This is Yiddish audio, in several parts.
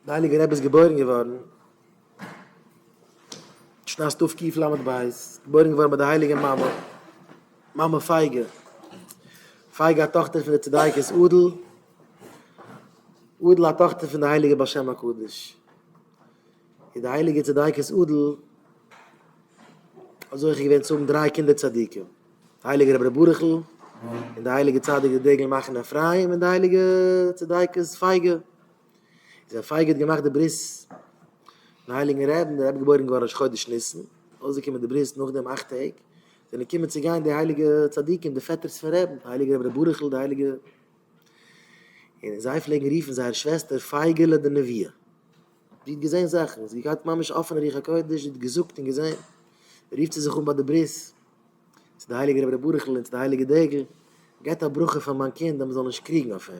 די הייליגע רבי איז געבוירן געווארן שנת תקפ ק ל' בית, געבוירן געווארן ביי די הייליגע מאמע, מאמע פייגא, פייגא א טאכטער פון די צדיקת אדל, אדל א טאכטער פון די הייליגע בעל שם הקדוש, און די הייליגע צדיקת אדל האט זוכה געווען צו האבן דריי קינדער צדיקים, די הייליגע רבי ברכ'ל, און די הייליגע צדיק די דגל מחנה אפרים, און די הייליגע צדיקת פייגא. איז א פייגע האט געמאכט די ברית פון הייליגן רעבן, דער רבי געבוירן געווארן ראש חודש ניסן, אויסגעקומען די ברית נאך דעם אכט טעג, זענען געקומען צו גיין די הייליגע צדיקים די פעטערס פון רעבן, די הייליגע רבי ר' ברוכ'ל די הייליגע, און זיי פלעגן רופן זייער שוועסטער פייגעלע די נביאה, זי האט געזען זאכן, זי האט געהאט ממש אפענע רוח הקודש, זי האט געזאגט און געזען, רופט זי זיך אן ביי די ברית צו די הייליגע רבי ר' ברוכ'ל און צו די הייליגע דגל, געבט א ברכה פאר מיין קינד אז מען זאל נישט קריגן אויף אים.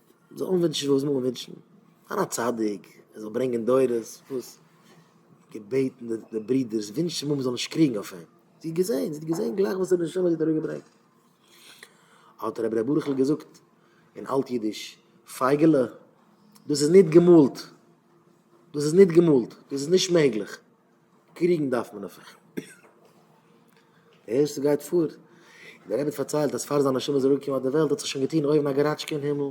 זאל אנווינטשן וואס מ'וויל ווינטשן, זיין א צדיק, ער זאל ברענגען דורות, וואס? געבעטן די ברודערס, ווינטשן מ'זאל נישט קריגן אויף אים, זי האט געזען, זי האט געזען גלייך וואס די נשמה האט איר אראפגעברענגט. האט רבי ר' ברוכ'ל געזאגט אין אלט אידיש, פייגעלע, דאס איז ניט געמאלט, דאס איז ניט געמאלט, דאס איז נישט מעגליך. קריגן דארף מען אויף איך. די ערשטע גייט פאר. און דער רבי פארציילט אז פאר זיין נשמה איז אראפגעקומען אויף די וועלט האט זיך שוין געטון אויבן א געראטשקע אין הימל.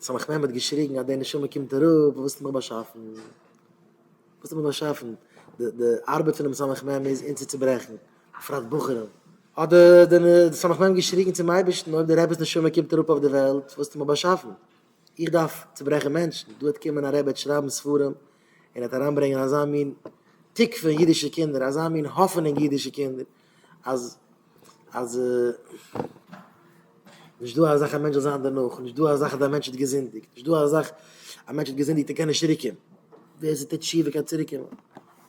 סמך מם האט געשריגן אז די נשמה קומט אראפ, וואס האסטו מיך באשאפן? וואס האסטו מיך באשאפן? די די ארבעט פונעם סמך מם איז אונז צו צוברעכן, בפרט בחורים. האט די די סמך מם געשריגן צום אייבערשטן אויב די רבי'ס נשמה קומט אראפ אויף די וועלט, וואס האסטו מיך באשאפן? איך דארף צוברעכן מענטשן, דא העט קומען א רבי העט שרייבן ספרים און העט אריינברענגען אזא מין תקווה אין אידישע קינדער, אזא מין האפענונג אין אידישע קינדער, אז אז נישט דא א זאך א מענטש זאל זיין דערנאך, נישט דא א זאך אז דער מענטש האט געזינדיגט, נישט דא א זאך א מענטש האט געזינדיגט און קען נישט צוריק קומען, ווער ס'טוט תשובה קען צוריק קומען,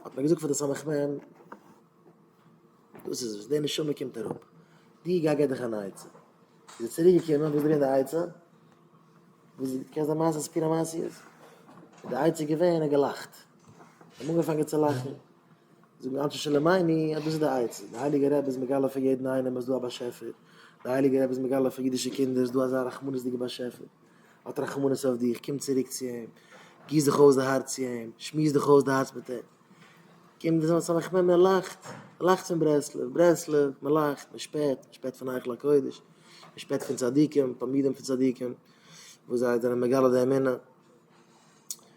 האט מען געזאגט פאר די סמך מם. דאס איז וואס די נשמה קומט אראפ, די גיי גיב דיך אן עצה, איז ער צוריק געקומען וואס ברענגט די עצה, וואס קענסט די מעשה סיפור המעשיות, איז די עצה געווען ער האט געלאכט, זיי האבן אנגעפאנגען צו לאכן, זאגן אנשי שלומינו אז דאס איז די עצה, די הייליגע רבי איז מגלה פאר יעדן איינעם אז דא א באשעפער, די הייליגע רבי איז מגלה פאר אידישע קינדער אז דא אזא רחמנות'דיגע באשעפער, ער האט רחמנות אויף דיך, קום צוריק צו אים, גיס דיך אויס די הארץ צו אים, שמועס דיך אויס די הארץ מיט אים. קומט דאס אלס א מחמיר מען לאכט, מען לאכט פון ברסלב, ברסלב, מען לאכט, מען שפעט, מען שפעט פון היכל הקודש, מען שפעט פון צדיקים, תלמידים פון צדיקים, וואס זיי זענען מגלה די אמונה.